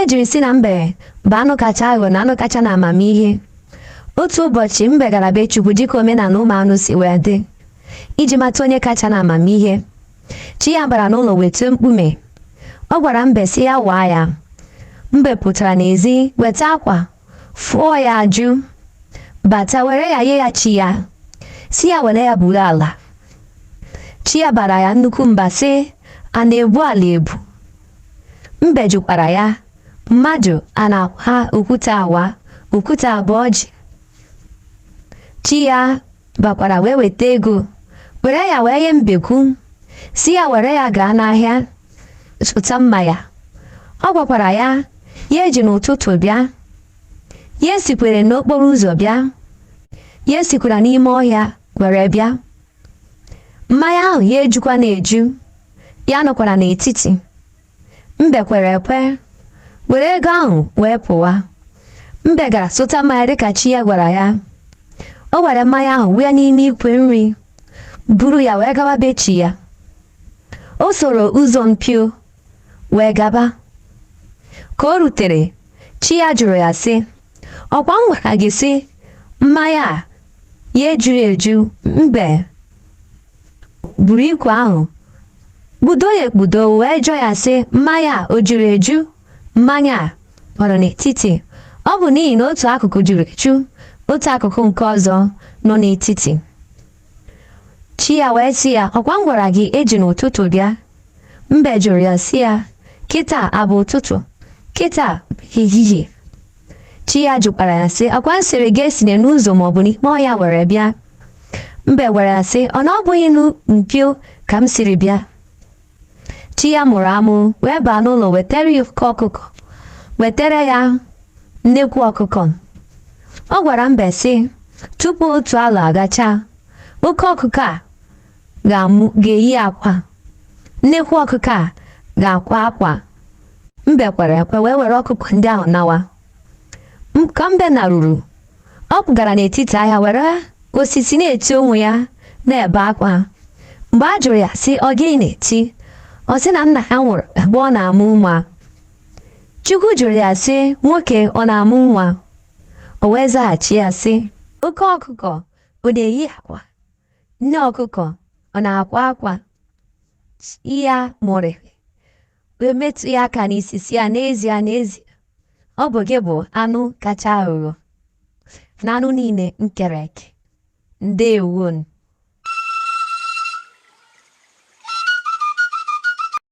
e jiri sị na mbe bụ anụ kacha aghọ na anụ kacha na amamihe otu ụbọchị mbe gara be chukwu dịka omenala ụmụ anụ si wee dị iji mata onye kacha na amamihe chi ya bara n'ụlọ weta mkpume ọ gwara mbe sị ya waa ya mbe pụtara n'ezi weta akwa fụọ ya ajụ bata were ya nye ya chi ya sị ya were ya buru ala chi ya bara ya nnukwu mba sị a na-ebu ala ebu Mbe jụkwara ya, Mmadụ a na-awa okwute awa, okwute abụ ọjị. Chi ya bakwara wee weta ego, were ya wee nye mbekwu, sị ya were ya gaa n'ahịa zụta mmanya. Ọ gwakwara ya, ya eji n'ụtụtụ bịa, ya esikwana n'okporo ụzọ bịa, ya esikwana n'ime ọhịa were bịa. mmanya ahụ ya ejukwana eju ya anọkwana n'etiti mbe kwere ekwe were ego ahụ wee pụwa mbe gara zụta mmanya dịka chi ya gwara ya o were mmanya ahụ wụọ n'ime ikwe nri buru ya wee gawa be chi ya o soro ụzọ mpio wee gaba ka o rutere chi ya jụrụ ya sị ọkwa m gwara gị sị mmanya a ya ejughị eju mbe buru ikwe ahụ kpudo ya ekpudo wee jụọ ya sị mmanya a o juru eju mmanya a nọrọ n'etiti ọ bụ n'ihi na otu akụkụ juru eju otu akụkụ nke ọzọ nọ n'etiti chi ya wee sị ya ọkwa m gwara gị eji n'ụtụtụ bịa mbe jụrụ ya sị ya kịta abụ ụtụtụ kịta ehihie chi ya jụkwara ya sị ọkwa m sịrị gị esine n'ụzọ maọbụ n'ime ọhịa were bịa mbe gwara ya sị ọ na ọ bụghị n'mpio ka m siri bịa chi ya mụrụ amụ wee baa n'ụlọ wetara ya oke ọkụkọ wetara ya nnekwu ọkụkọ ọ gwara mbe sị tupu otu arọ agacha oke ọkụkọ a ga-amụ ga-eyi akwa nnekwu ọkụkọ a ga-akwa akwa mbe kwere ekwe wee were ọkụkọ ndị ahụ nawa M- ka mbe naruru ọ pụgara n'etiti ahịa were osisi na-eti onwe ya na-ebe akwa mgbe a jụrụ ya sị ọ gịnị na-eti ọ sị na nna ya nwụrụ mgbe ọ na-amụ nwa Chukwu jụrụ ya sị nwoke ọ na-amụ nwa o wee zaghachi ya sị oke ọkụkọ ọ na-eyi akwa nne ọkụkọ ọ na-akwa akwa ya mụrịrị wee metụ ya aka n'isi sị ya n'ezie n'ezie ọ bụ gị bụ anụ kacha aghụghọ na anụ niile m kere eke ndewonụ